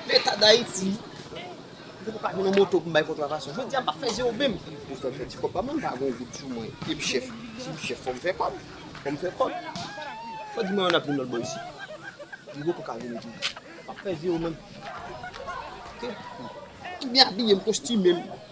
Leta Dayiti, Mwen poko ka jwenn yon moto pou m bay kontravasyon. Jodi a m pa fè zero menm. Pou fè m fè ti kòb pa m lan, m pa gen yon goud sou mwen. E m chèf. Si m chèf, fò m fè kòb. Fò m fè kòb. Fò di mwen an n ap jwenn lòt bò isit. M poko ka jwenn tou. M pa fè zero menm. Ok. M byen abiye, m kostime m.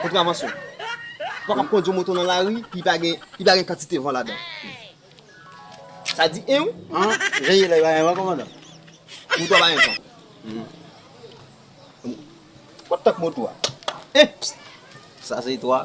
Kontravansyon, ou pa kab kondwi yon moto nan lari ki pa gen ki pa gen kantite van ladan. Sa di 1 an. Veye lè pa gen van kòmandan. Moto a pa gen van. Kot tank moto a? 1 pst. Sa se 3.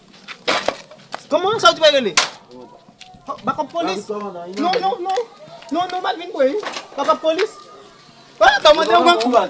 Koman sa ou di bay rele? Bakop polis? Non, non, non. Non, non, mal vin bwe. Bakop polis? Ou pa ta mande yon grankou bal.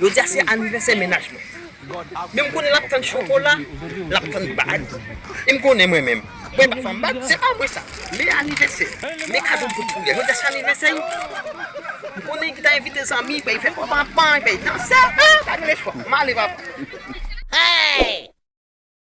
Jodi a se anivèsè mennaj mwen. Men m konnen l ap tann chokola, l ap tann bag. E m konnen mwen menm, mwen pa fanm bag, se pa mwen sa. Men anivèsè, men kado m pot pou li a. Jodi a se anivèsè l. M konnen ki ta envite zanmi, fè fè konpa, pran, fè danse. An! Pa gen lespwa. M ale papa. Hey!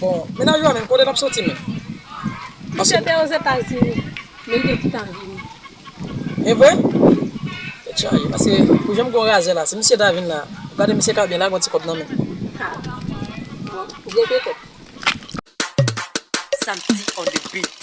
Bon, mennaj ou a menm kote l ap soti menm? Li te gen Ozetazini, men li te gentan vini. E vre? Tèt chaje, paske pou jan m gen yon razè la, si misye ta vin la, ou gade misye ka byen lage yon ti kòb nan men l. Ha! Bon, ou gen petèt. Samsy on the beat.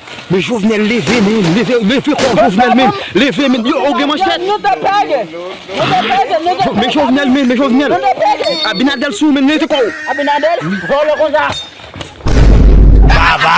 Men jovenel leve men leve leve kòw jovenel men leve men yo ou gen manchèt men jovenel men men jovenel abinadel sou ou men leve kòw abinadel vòlò konsa baba.